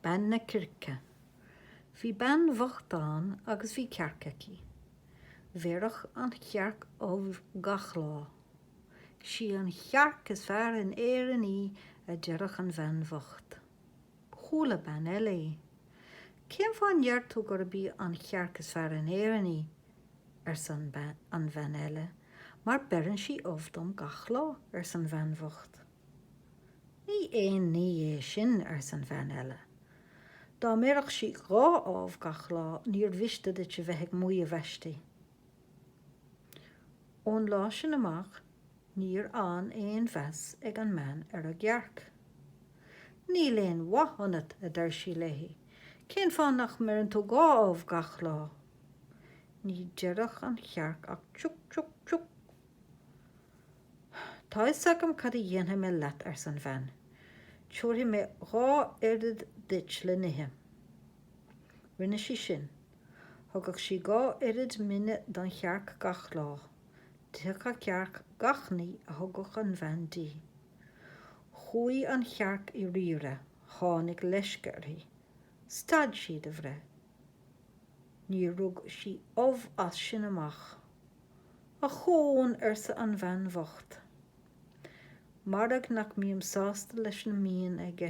Bean na Circe. Bhí bean bhocht ann agus bhí cearc aici. Bhéarfadh an chearc ubh gach lá. Sí an chearc is fearr in Éirinn í a deireadh an bhean bhocht. Chuala bean eile í. Cén fáth a ndeir tú gurb í an chearc is fearr in Éirinn í? arsa an bhean eile. Mar beireann sí ubh dom gach lá, arsa an bhean bhocht. Ní aon ní é sin, arsa an bhean eile. Dá mbéarfadh sí dhá ubh gach lá níor mhiste duit a bheith ag maíomh aisti. Ón lá sin amach níor fhan aon mheas ag an mbean ar an gcearc. Níl aon mhaith ionat, a deireadh sí léi, cén fáth nach mbeireann tú dhá ubh gach lá? Ní deireadh an chearc ach tiúc, tiúc, tiúc. Tá a fhios agam cad a dhéanfaidh mé leat, ars an bhean. Tabharfaidh mé dhá oiread duit le n-ithe. Rinne sí sin. Thugadh sí dhá oiread mine don chearc gach lá. D'itheadh an chearc gach ní a thugadh an bhean di. Chuaidh an chearc i raimhre, tháinig leisce uirthi. Stad sí de bhreith. Níor rug sí ubh as sin amach. Ochón, arsa an bhean bhocht. Mairg nach mbíonn sásta leis a mbíonn aige.